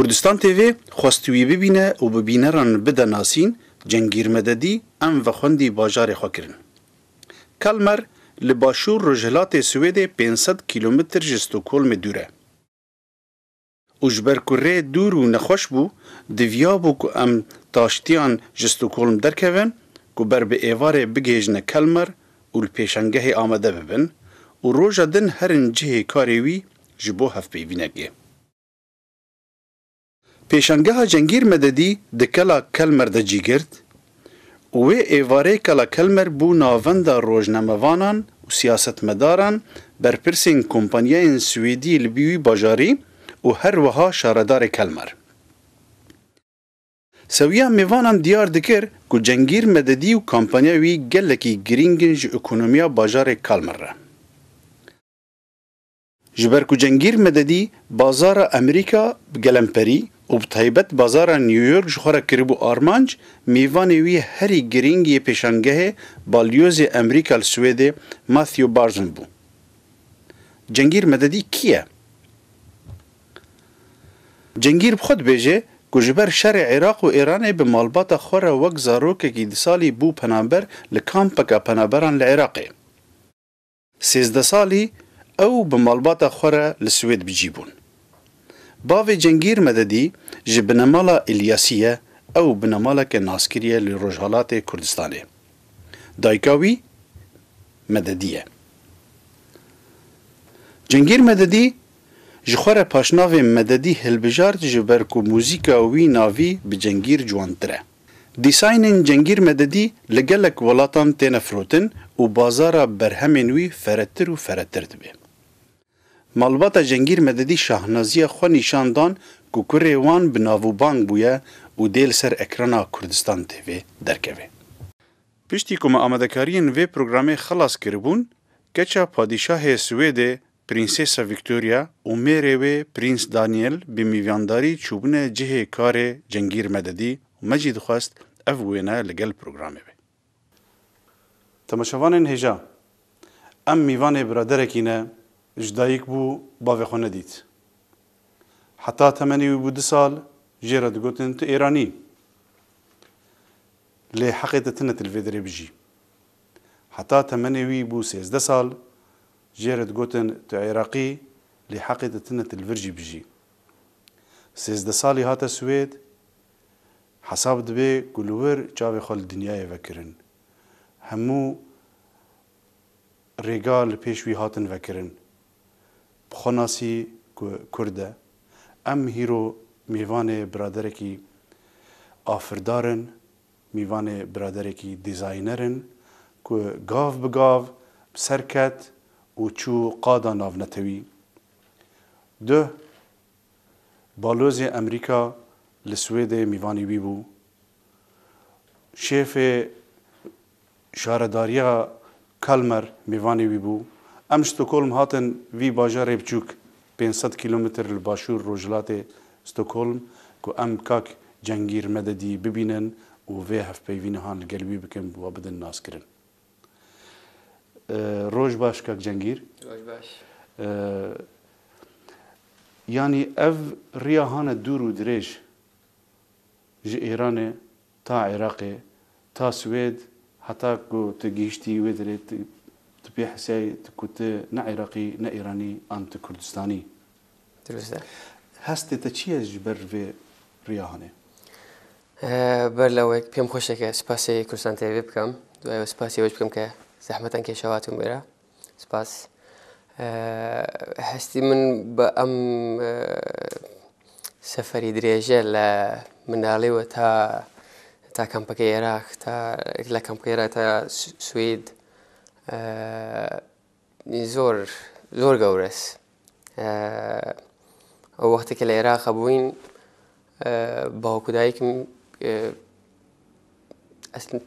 Kurdistan TV xwest wî bibîne û bi bîneran bide nasîn, Cengîr Mededî em vexwendî bajarê xwe kirin. Kalmar li başûr rojhilatê Swêdê pênc sed kîlometr ji Stokholmê dûr e û ji ber ku rê dûr û nexweş bû, diviyabû ku em taştiyan ji Stokholm derkevin ku ber bi êvarê bigihêjine Kalmar û li pêşangehê amade bibin û roja din herin cihê karê wî ji bo hevpeyvînekê. Pêşangeha Cengîr Mededî di Kela Kelmer de cî girt û wê êvarê Kela Kelmer bû navenda rojnamevanan û siyasetmedaran, berpirsên kompanyayên Swêdî li wî bajarî û her wiha şaredarê Kelmer. Sewiya mêvanan diyar dikir ku Cengîr Mededî û kampanya wî gelekî girîng in ji ekonomiya bajarê Kelmer re. Ji ber ku Cengîr Mededî bazara Amerîka bi gelemperî û bi taybet bazara New York ji xwe re kiribû armanc, mêvanê wî herî girîng yê pêşangehê Balyozê Amerîka li Swêdê Matthew Barzun bû. Cengîr Mededî kî ye? Cengîr bi xwe dibêje ku ji ber şerê Iraq û Îranê bi malbata xwe re wek zarokekî di salî bû penaber li kampeka penaberan li Iraqê. Sêzdeh salî ew bi malbata xwe re li Swêd bi cî bûn. Bavê Cengîr Mededî ji binemala Îlyasî ye, ew binemaleke naskirî ye li Rojhilatê Kurdistanê. Dayika wî Mededî ye. Cengîr Mededî ji xwe re paşnavê Mededî hilbijart ji ber ku muzîka wî navî bi Cengîr ciwantir e. Dîsaynên Cengîr Mededî li gelek welatan têne firotin û bazara berhemên wî feretir û feretir dibe. Malbata Cengîr Mededî şahnaziya xwe nîşan dan ku kurê wan bi nav û bang bûye û dê li ser ekrana Kurdistan TV derkeve. Piştî ku me amadekariyên vê programê xilas kiribûn, keça Padîşahê Swêdê Prînsesa Victoria û mêrê wê Prîns Daniel bi mîvandarî çûbûne cihê karê Cengîr Mededî û me jî dixwest ev wêne li gel programê be. Temaşevanên hêja, Em mîvanê biraderekî ne, ji dayik bû bavê xwe nedît. Heta temenê wî bû du sal jê re digotin tu Êranî yî. Lê heqê te tine tu li vê derê bijî. Heta temenê wî bû sêzdeh sal Jê re digotin tu Iraqî lê heqê te tune tu li vir jî bijî. Sêzdeh salî hate Swêd, hesab dibe ku li wir çavê xwe li dinyayê vekirin. Hemû rêga li pêş wî hatin vekirin. Bi xwe nasî ku Kurd e. Em hîro mêvanê biraderekî afirdar in. Mîvanê biraderekî dîzayner in ku gav bi gav bi ser ket û çû qada navnetewî. Duh, Balozê Emerîka li Swêdê mîvanî wî bû. Şêfê. Şaredariya Kalmar mêvanê wî bû. Em Stockholm hatin vî bajarê biçûk pênc sed kîlometr li başûr rojhilatê Stockholm ku em kak Cengîr Mededî bibînin û vê hevpeyvînihan li gel wî bikin bi we bidin naskirin. Roj baş kak Cengîr. Roj baş. Yanî ev riya hane dûr û dirêj ji Êranê. Ta Iraqê, ta Swêd heta ku tu gihiştî wê derê tu pê hesiyayî ku tu ne Iraqî, ne Îranî an tu Kurdistanî. Dirust e. Hestê te çi ye ji ber vê riya hanê? Ber lawek pêm xweş e ke spasê Kurdistan TV bikim. Duaye wê spasê we jî bikim ke zehmetan kêşew hatin wê re. Spas. Hestî min bi em seferî dirêje li Minalê û ta ta kampeke Iraq ta li kampeke Iraq ta Swêd zor zor gewres. Ew wextê ke li Iraqê bûyîn bavk û dayikim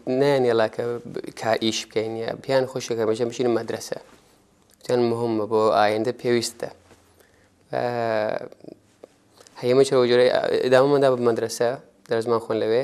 neyan yala ke ka îş bikeyn ya pêyan xweşik e hemêşan biçînin medrese. Tiyan muhim e bo ayende pêwîst e. Heyê min çawa cure îdame min da bi medrese, derzman xwend li wê.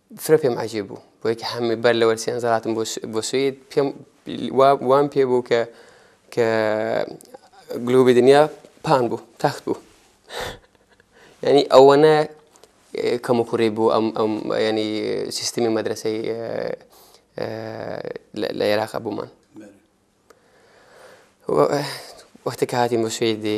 Fira pê min ecêb bû. Bo yekê hemî ber li wer sêyan zal hatin bo Swêd. Pê wan pê bû ke ke globê dinya pan bû, text bû. Yanî ewana kemûkurê bû em em yanî sîstemê medreseyê li Iraq hebû man. Wextê ke hatîn bo Swêdê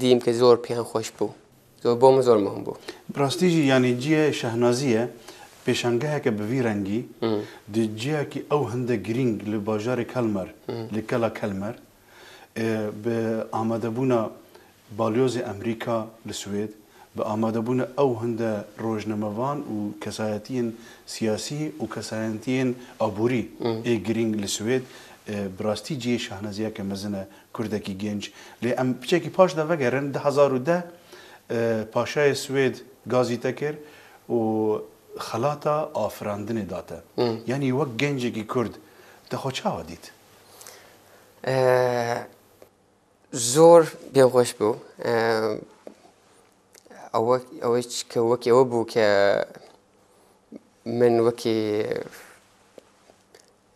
Dîm ke zor pêyan xweş bû. Zor bo min zor muhim bû. Bi rastî jî yanî ciyê Şehnazî ye pêşangeheke bi vî rengî di ciyakî ew hinde girîng li bajarê Kelmer li Kela Kelmer bi amadebûna Balyozê Amerîka li Swêd, bi amadebûna ew hinde rojnamevan û kesayetiyên siyasî û kesayentiyên aborî ê girîng li Swêd, Bi rastî cihê şahneziyeke mezin e, kurdekî gênc. Lê em piçekî paş de vegerin, du hezar û deh paşayê Swêd gazî te kir û xelata afirandinê da te. Yanî wek gencekî kurd te xwe çawa dît? Zor pê xweş bû. Ew çike wekî ew bû ke min wekî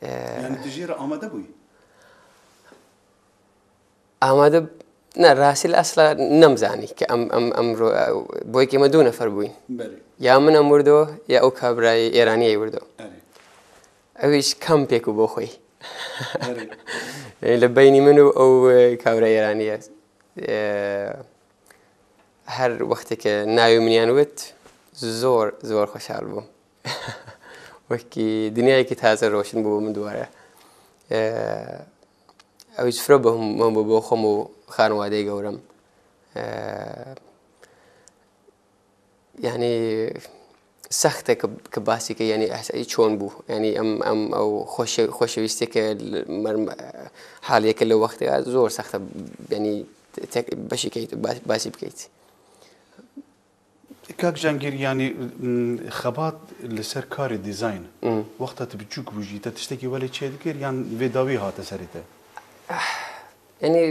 Yani tu jê re amade bûyî? Amade ne rastî li esla nemzanî ke em em em bo yekê me du nefer bûyîn. Belê. Ya min em wirdo ya ew kabirayê Êraniyê wirdo. Erê. Ew hîç kampêk û bo xwe yî. Li beynî min û ew kawre êranî ye. Her wexteke navê min yan wit zor zor xweşal bûm. Wekî dinyayekî taze roşn bû bo min dubare. Ew hîç fira bûm bo xwe û xanewade gewre min. Yanî sext e ku basî ke yanî ehsayî çon bû. Yanî em em ew xweşewîstiyeke haliyeke li wextê ya zor sext e yanî tek beşekê basî bikeît. Kak Cengîr yanî xebat li ser karê dîzayn wexta tu biçûk bû jî te tiştekî welê çêdikir yan vê dawî hate serê te? Yanî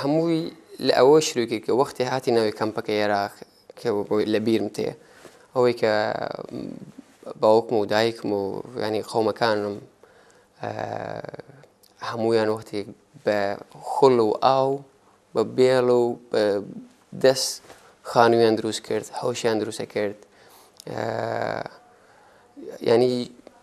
hemû wî li ewê şirû kir ku wextê hatî navê kampeke Yerax ke li bîr min tê ew ê ke bawik min û dayik min û yanî qewmekan min hemûyan wextê bi xul û aw bi bêl û bi dest xanûyan dirûst kir, hewşiyan dirûst kir. Yanî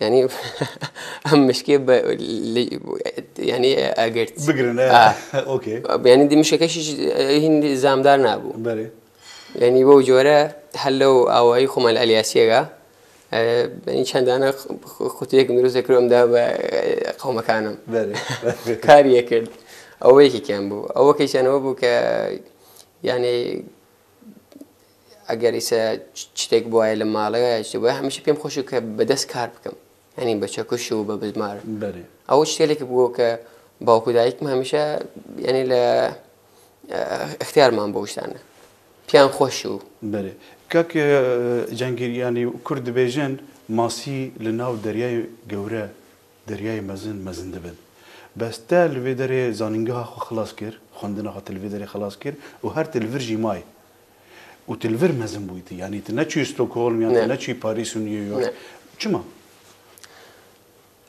Yanî em mişkê yanî egirt. Bigirin ok. Yanî dî mişekeşî hîn zamdar nabû. Berê. Yanî bo cure hello awayî xwe me li Elyasiyê ga. Yanî çendane qutiyek mirûzê kir em da be qewmekan em. Berê. Kariye kir. Ew wekî kem bû. Ew wekî çend bû ke yanî Eger îse çitêk bûaye li malê ya ji bo hemîşe pêm xweş û ke bi dest kar bikim. Yanî bi çekuş û bi bizmar. Belê. Ew ji têlekê bû ke bawk û dayik min hemîşe yanî li ixtiyar man bû ûştane. Pêyan xweş û. Belê. Kak Cengîr yanî kurd dibêjin masî li nav deryayê gewre, deryayê mezin, mezin dibin. Bes te li vê derê zanîngeha xwe xilas kir, xwendina xwe te li vê derê xilas kir û her ti li vir jî may. û tu li vir mezin bûyîtî. Yanî tu neçûyî Stockholm yan tu neçûyî Parîs û New York. Çima?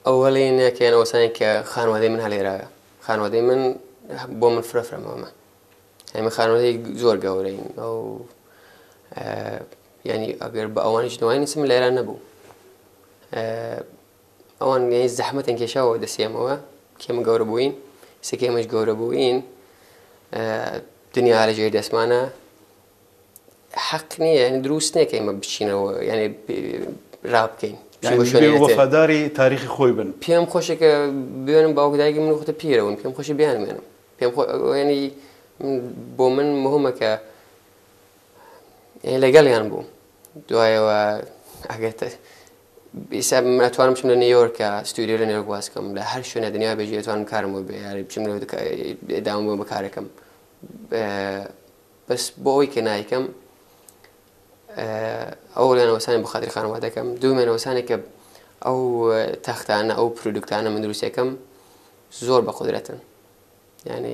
Ewelîneke yan osaneke xanewedeyê min helêra ye. Xanewedeyê min bo min fira fira mam e. Yani min xanewedeyê zor gewre in. Ew yani eger bi ewan jî newayî nisim li Îran nebû. Ewan gehîn zehmetên kêşawa wê destê em ewe kê min gewre bûyîn. Sekê min ji gewre bûyîn dinya here jê dest man e. Heq nîye yanî dirûst neke em biçîne we yanî rav bikeyn. Yani divê û wefadarî tarîxê xwe yî bin. Pêm xweş e ke bibênim bawk dayikê min wexta pîr e win. Pêm xweş e biyanimênim. Pêm xwe yanî bo min muhim e ke yanî legel yan bûm. Duwaye we eger te Îsa min etwanim biçim li New Yorka, studyoya New York baz bikim. Li her şûnê dinyayê be jî etwanim karim wê bê. Yarî biçim li dawam bûm bi karê kim. Bes bo wî ke nayêkim ewlana wesanê bi xatirê xanima dikim. Dûmena wesanê ke ew textane, ew produktane min dirûst dikim zor bi qudret in. Yani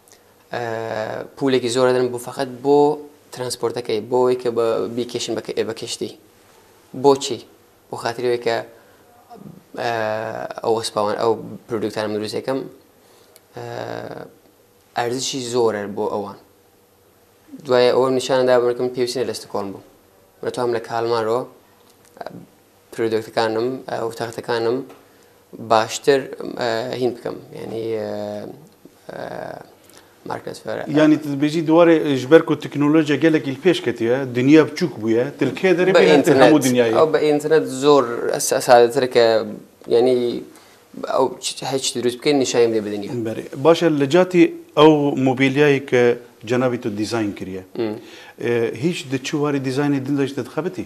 Pûlekî zor edin bo feqet bo transportekê, bo wê ke bîkêşin bi kiştî. Boçî? Bo xatirê wê ke ew wespa wan, ew produkta min dirûst dikim erzişî zor e bo ewan. Duwaye ew nîşan da min ke min pêwîstî ne li Stockholm bûm. Min re tu hem li Kalmar o Product-ekan im û textekan im baştir hîn bikim. Yanî market fêr. Yanî tu dibêjî di warê ji ber ku teknolojiya gelek îl pêş ketiye, dinya biçûk bûye, tu li kê derê bêhna te hemû dinyayê. Ew bi înternet zor sadetir ke yanî ew her çi dirûst bike nîşanî bide bi dinya. Belê. Baş e li catî ew mobîlyayê ke cenabî tu dîzayn kiriye. Hîç di çi warî dîzaynê din de ji te dixebitî?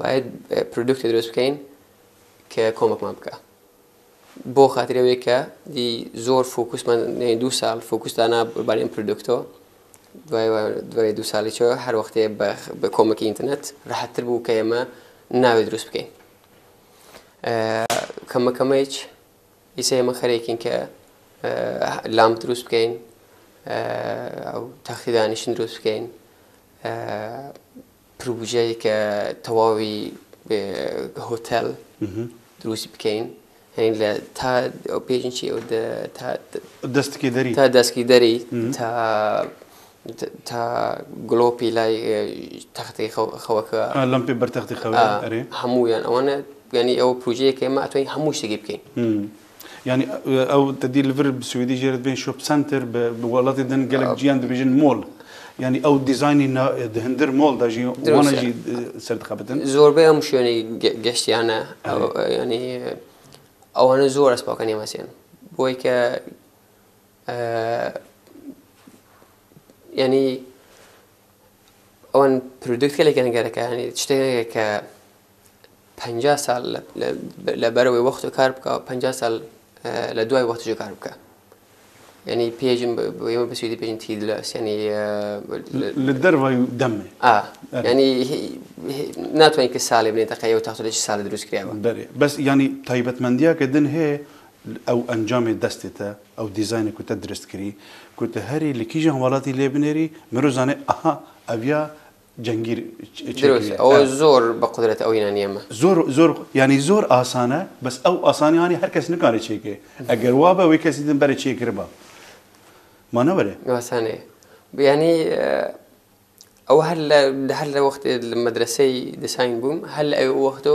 Bayê produktê dirêst bikeyn ke komekman bike. Bo xatirê wê ke dî zor fokus me neyên du sal fokus dana li barê produkto. Duayê du salî çi her wextê bi komekî înternet rehettir bû ke ême navê dirûst bikeyn. Keme keme îç îse ême xerê kîn ke lamp dirûst bikeyn ew textî danîştin dirûst bikeyn. projeyeke tewawî bi hotel dirûst bikein yanî li ta pêjin çi ew di ta destgîderî ta destgîderî ta ta glopî lay textê xeweke lempê ber textê xewe erê hemû yan ewan e yanî ew projeyeke me etwayîn hemû ştekî bikein. Yanî ew te dî li vir bi swêdî jê re dibên shop center bi bi welatê din gelek cîyan dibêjin mall. Yanî ew dîzaynî na di hindir mall de jî Dirûst wana e. jî eh, ser dixebitin. Zorbey hemû şwênê ge- geştiyane. Ew, e, yanî ewane zor ez paka nêmesên. Bo wê ke e, yanî ewan produkt gelek gerek e. Yanî tiştekî heye ke Penca sal li ber wê wextê kar bike û penca sal li duayê wextê jî kar bike. Yanî pêjin wê bi swîdî pêjin tîdles yanî li derve demê. A yanî natwanî ki salê binê deqeyê û taxto de çi salê dirûst kiriye be. Berê bes yanî taybetmendiyeke din hê ew encamê destê te ew dîzaynê ku te dirist kirî ku tu herî li kîjan welatî lê binêrî miro zanê aha ev ya Cengîr çêkiriye. Dirûst, ew zor bi qudret ew yîna nîyeme. Zor, zor, yanî zor asan e, bes ew asanî anî her kes nikare çêke. Eger wa be wê kesî din berê çêkiriba. Ma ne were? Asanê. Yanî ew her li di her li wextê li medreseyî disayn bûm, her li ew wexto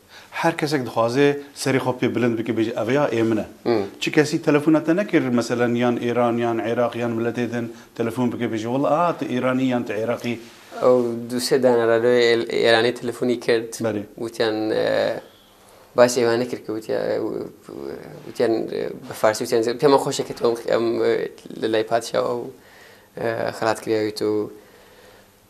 Her kesek dixwaze serê xwe pê bilind bike bêje ev ya ê min e. Çi kesî telefona te nekir meselen yan Îran yan Îraq yan miletê din telefon bike bêje wila aha tu Îranî yan tu Îraqî. Ew du sê dana re lê Îranê telefonî kirt witiyan bahs ê wan nekir ku witiya witiyan bi farsî witiyan zêde pêman xweş e ke tu em li lay padşawa û xelat kiriya wî tu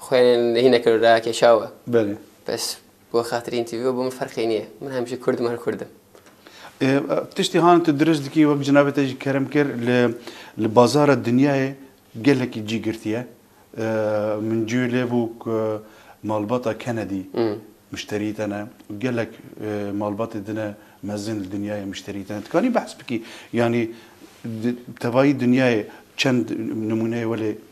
Xwênên li hîneke li raya keşa we. Belê. Bes bo xatirî întîvî we bo min ferqê nîye. Min hemişe kurd im her kurd im. Tiştî han tu dirêj dikî wek cinabê te jî kerem kir li li bazara dinyayê gelekî cî girtiye. Min cûyê lê bû ku malbata Kennedy mişterî te ne û gelek malbatê din e mezin li dinyayê mişterî te ne. Dikanî behs bikî yanî tevayî dinyayê çend nimûneyê welê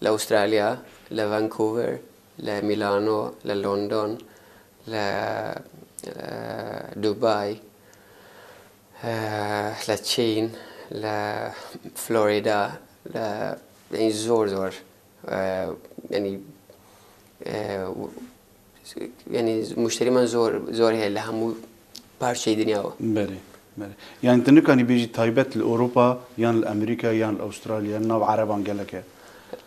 Li Aûstralya, li Vancouver, li Mîlano, li London, li Dubay, li Çîn, li Florîda, li yanî zor zor yanî Yanî muşterîman zor zor heye li hemû parçeyê dinya we. Belê. Belê. Yanî tu nikanî bêjî taybet li Ewropa yan li Amerîka yan li Astralya yan nav ereban gelek e.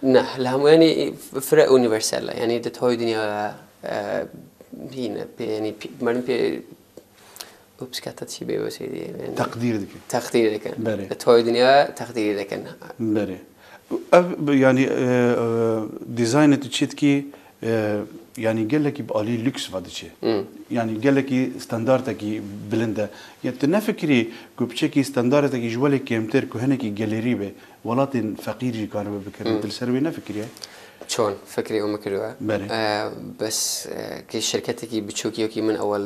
Ne, li hemû yanî fireh unîversel e. Yanî di tayê dinya de hîn e. Pê yanî merdm pê û pişka te tişî bê weşê dî yên. Teqdîr dikin. Teqdîr dikin. Berê. Li toyê dinya teqdîrî dikin. Berê. Ev yanî dîzaynê tu çê dikî yanî gelekî bi alî lûks ve diçe. Yanî gelekî standardekî bilind e. Yê tu nefikirî ku piçekî standardekî ji welê kêmtir ku hinekî gelêrî be welatên feqîr jî karibe bikirin. Tu li ser wê nefikiriye? Çon? Fikrê û min kiriwe. Berê. Bes kê şirketekî biçûkî wekî min ewel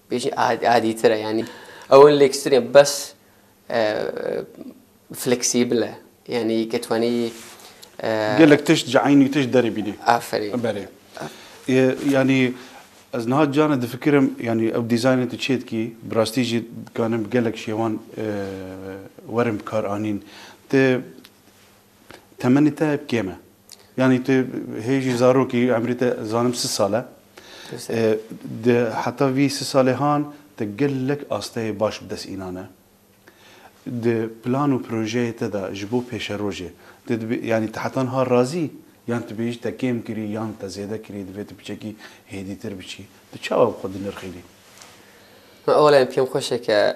Bêjî adîtir e yanî ew in lêkstirîya bes fleksîbil e yanî ke twanî Gelek tişt ji eynî tişt derê bînê. Aferîn. Berê. Yanî ez niha caran difikirim yanî ew dîzaynê tu çê dikî bi rastî jî dikarin bi gelek şêwan werin bikaranîn. Ti Temenê te hep kêm e. Yanî tu hê jî zarokî emrê te zanim sis sal e. Di heta vî sis salê han te gelek asteyê baş bi dest înane. Di plan û projeyê te de ji bo pêşerojê tu dibê yanî te heta niha razî yan tu bêjî te kêm kirî yan te zêde kirî divê tu piçekî hêdîtir biçî. Tu çawa bi xwe dinirxînî? Ola em pêm xweş e ke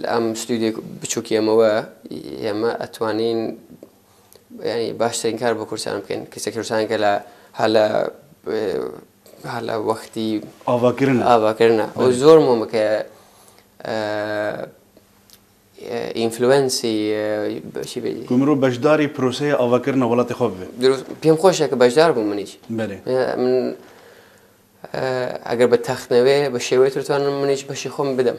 Li em stûdyek biçûk ye me we ye me etwanîn yanî baştirîn kar bo kursan bikin. Kesek kursan ke la hala hala wextî avakirin avakirin e. O zor mom ke influensî şî bê. Ku min ro beşdarî proseya avakirina welatê xwe bibe. Dirûst pêm xweş e ke beşdar bûm min îc. Belê. Min eger bi textnevê bi şêwê tûrtvan min îc beşê xwe min bidim.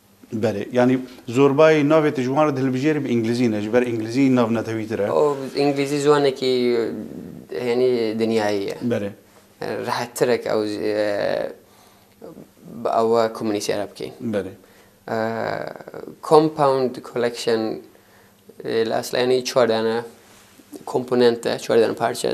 Belê. Yanî zorbayî navê te ji wan re dihilbijêre bi îngilîzî ne, ji ber îngilîzî nav netewî tir e. Îngilîzî ziwanekî hênî dinyayî ye. Belê. Rehet tir e ke ew bi ewe komûnîsêre bikî. Belê. Compound collection li eslayanî çar dane komponent e, çar dane parçe.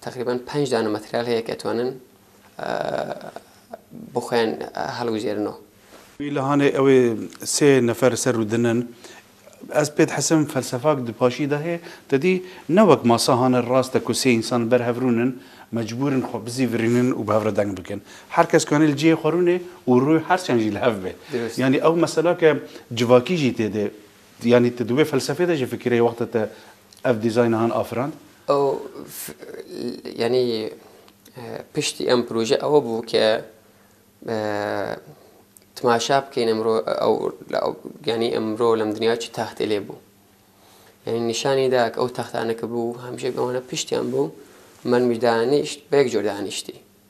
Teqrîben penc dane materyal heye ke ditonin bi xwe yên hilgujêrin o. Îlhanê ew ê sê nefer ser û din in. Ez pê dihesim felsefak di paşî de hê. Te dî ne wek masa hane rast e ku sê însan li ber hev rûn in, mecbûr in xwe bizîvirînin û bi hev re deng bikin. Her kes kanê li cihê xwe rûnê û rû her çend jî li hev be. Yanî ew mesela ke civakî jî tê de. Yanî tu di wê felsefê de jî fikireyê wexta te ev dîzayna han afirand? Ew yanî piştî em proje ew bû ke temaşa bikeyne emro yanî emro lem dinya çi textê lê bû. Yanî nîşanî da ke ew textane ke bû hemşî ewana piştî em bû min mî danîşt bek cor danîştî.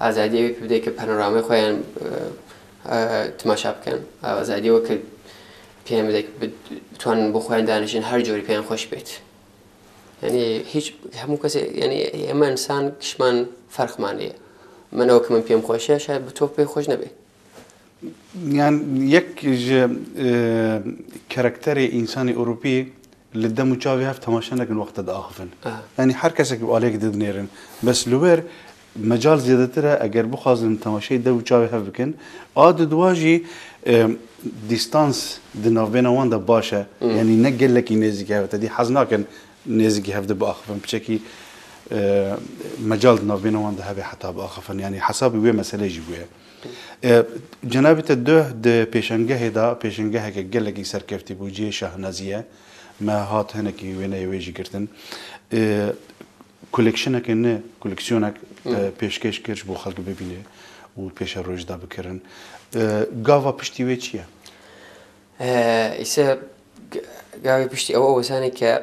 Azadiyê wî pê bide ke panorameyê xwe yan timaşa bikin. Azadiyê wê ke pê yan bide ke bitwanin bo xwe yan danijin her corî pê yan xweş bêt. Yanî hîç hemû kesê yanî ema însan kişman ferq manî. Min ew ke min pê min xweş e şayad bi to pê xweş nebe. Yani yek ji e, karakterê însanê Ewropî li dem û çavê hev temaşe nekin wexta diaxivin. Yani her kesekî alek didinêrin. Bes li wer mecal zêdetir e eger bixwazin temaşeyê dev û çavê hev bikin. A di duwa jî dîstans di navbêna wan de baş e. Yani ne gelekî nêzîkî hev te dî hez nakin nêzîkî hev de biaxivin. Piçekî mecal di navbêna wan de hebe heta biaxivin. Yani hesabî wê meseleyê jî bûye. Cenabê te duh di pêşengehê de pêşengeheke gelekî serkeftî bû, cihê şahnazî ye. Me hat hinekî wêneyê wê jî girtin. Kolekşineke ne koleksiyonek pêşkêş kir ji bo xelk bibîne û pêşeroj de bikirin. Gava piştî wê çi ye? Îse gavê piştî ew e wesanê ke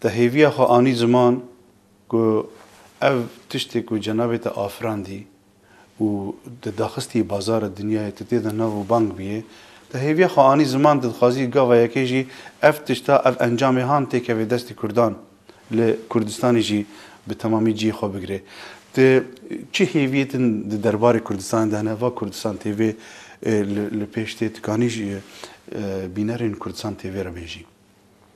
Te hêviya xwe anî ziman ku ev tiştê ku cenabê te afirandî û te daxistî bazara dinyayê, tu tê de nav û bang biyê. Te hêviya xwe anî ziman, tu dixwazî gava yekê jî ev tişta, ev encamê han têkeve destê Kurdan, li Kurdistanê jî bi temamî cihê xwe bigire. Tu çi hêviyê din di derbarê Kurdistanê de hene? Va Kurdistan tê vê li pêş tê, tu kanî ji bînerên Kurdistan tê vê re bêjî?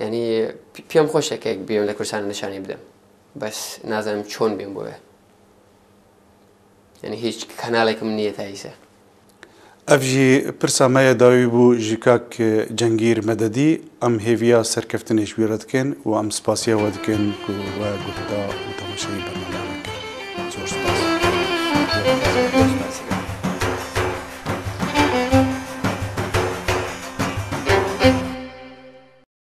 Yanî piyam xweş e ke biyam li Kurdistanê nişanî bidim. Bes nazanim çon biyam bo wê. Yanî hîç kanaleke min nîye tayî se. Ev jî pirsa me ye dawî bû ji kak Cengîr Mededî. Em hêviya serkeftinê ji wî re dikin û em spasiya we dikin ku we guh da û temaşayî bernameya me kir. Zor spas.